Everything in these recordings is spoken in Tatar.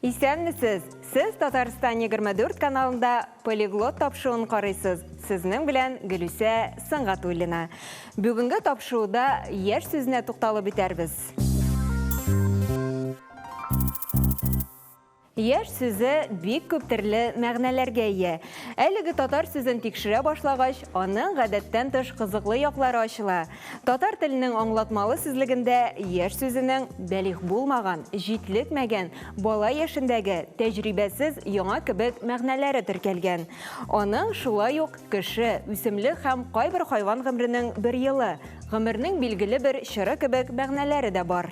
Исәнмесез! Сез Татарстан 24 каналында полиглот тапшуын карыйсыз. Сезнең белән Гөлүсә Сыңгатуллина. Бүгенге тапшуыда яшь сүзенә тукталып үтәрбез. Яшь сүзе бик күп төрле мәгънәләргә ия. Әлеге татар сүзен тикшерә башлагач, аның гадәттән тыш кызыклы яклары ачыла. Татар теленең аңлатмалы сүзлегендә яшь сүзенең бәлигъ булмаган, җитлекмәгән, бала яшендәге, тәҗрибәсез яңа кебек мәгънәләре теркәлгән. Аның шулай ук кеше, үсемлек һәм кайбер хайван гомренең бер елы, гомернең билгеле бер чоры кебек мәгънәләре дә бар.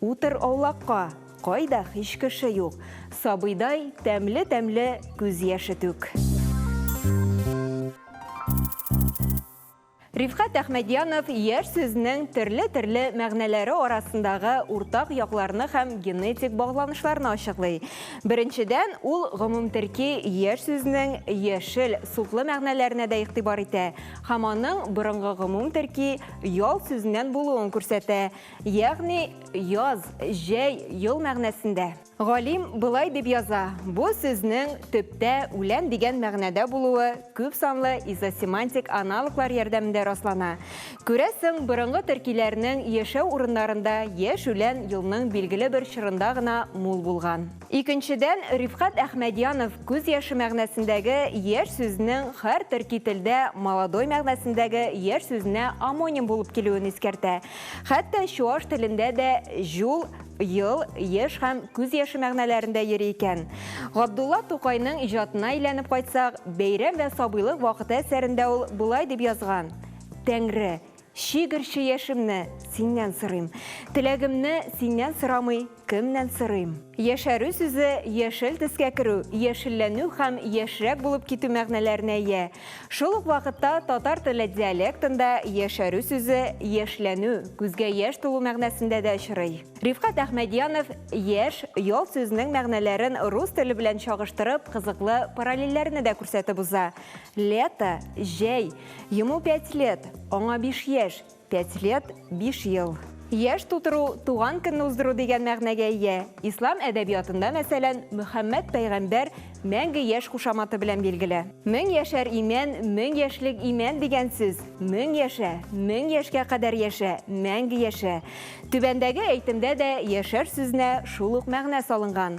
Утыр аулакка, кайда һич кеше юк. Сабыйдай тәмле-тәмле күз яше түк. Рифкать Әхмәдьянов яшь сүзнең төрле-төрле мәгънәләре арасындагы уртак якларны һәм генетик багланышларны ачыклый. Беренчедән, ул гомумтөрки яшь сүзнең яшел, суклы мәгънәләренә дә игътибар итә һәм аның борынгы гомумтөрки ял сүзеннән булуын күрсәтә. Ягъни, яз, җәй, ел мәгънәсендә. Галим болай дип яза, бу сүзнең төптә үлән дигән мәгънәдә булуы күп санлы изосемантик аналоглар ярдәмендә раслана. Күрәсең, борынгы төркиләрнең яшәү урыннарында яшь үлән елның билгеле бер чорында гына мул булган. Икенчедән, Рифкать Әхмәдьянов күз яше мәгънәсендәге яшь сүзнең хәр төрки телдә молодой мәгънәсендәге яшь сүзенә омоним булып килүен искәртә. Хәтта чуаш телендә дә җул, ел, еш һәм күз яше мәгънәләрендә йөри икән. Габдулла Тукайның иҗатына әйләнеп кайтсак, Бәйрәм вә сабыйлык вакыты әсәрендә ул болай дип язган, Тәңре, Чигерче яшемне синнән сорыйм. Теләгемне синнән сорамый, кемнән сорыйм? Яшәрү сүзе яшел төскә керү, яшелләнү һәм яшьрәк булып китү мәгънәләренә ия. Шул ук вакытта татар теле диалектында яшәрү сүзе яшьләнү, күзгә яшь тулу мәгънәсендә дә очрый. Рифкать Әхмәдьянов яшь, ял сүзенең мәгънәләрен рус теле белән чагыштырып, кызыклы параллельләрне дә күрсәтеп уза. Лето, җәй. Ему пять лет, аңа биш яшь. Пять лет, биш ел. Яшь тутыру, туган көнне уздыру дигән мәгънәгә ия. Ислам әдәбиятында, мәсәлән, Мөхәммәд пәйгамбәр мәңге яшь кушаматы белән билгеле. Мең яшәр имән, мең яшьлек имән дигән сүз. Мең яшә, мең яшькә кадәр яшә, мәңге яшә. Түбәндәге әйтемдә дә яшәр сүзенә шул ук мәгънә салынган.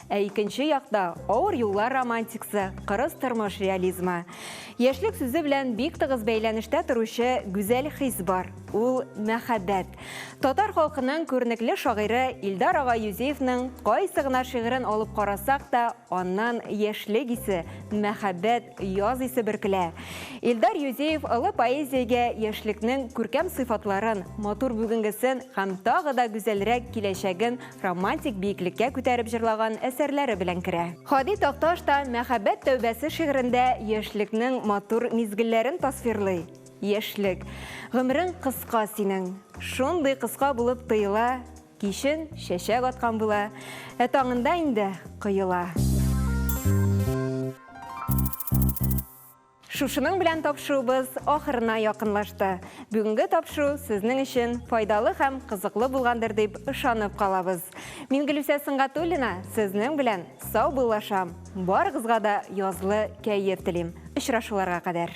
Ә икенче якта, авыр юллар романтиксы, кырыс тормыш реализмы. Яшьлек сүзе белән бик тыгыз бәйләнештә торучы гүзәл хис бар, ул мәхәббәт. Татар халкының күренекле шагыйре Илдар ага Юзеевның кайсы гына шигырен алып карасак та, аннан яшьлек исе, мәхәббәт, яз исе бөркелә. Илдар Юзеев олы поэзиягә яшьлекнең күркәм сыйфатларын, матур бүгенгесен һәм тагы да гүзәлрәк киләчәген романтик биеклеккә күтәреп җырлаган әсәрләре белән керә. Һади Такташ та Мәхәббәт тәүбәсе шигырендә яшьлекнең матур мизгелләрен тасвирлый. Яшьлек. Гомерең кыска синең. Шундый кыска булып тоела, Кичен чәчәк аткан була, Ә таңында инде коела. Шушының белән тапшыуыбыз ахырына якынлашты. Бүгенге тапшыру сезнең өчен файдалы һәм кызыклы булгандыр дип ышанып калабыз. Мин Гөлүсә Сөнгатуллина сезнең белән сау буллашам. Барыгызга да язлы кәеф телим. Очрашуларга кадәр.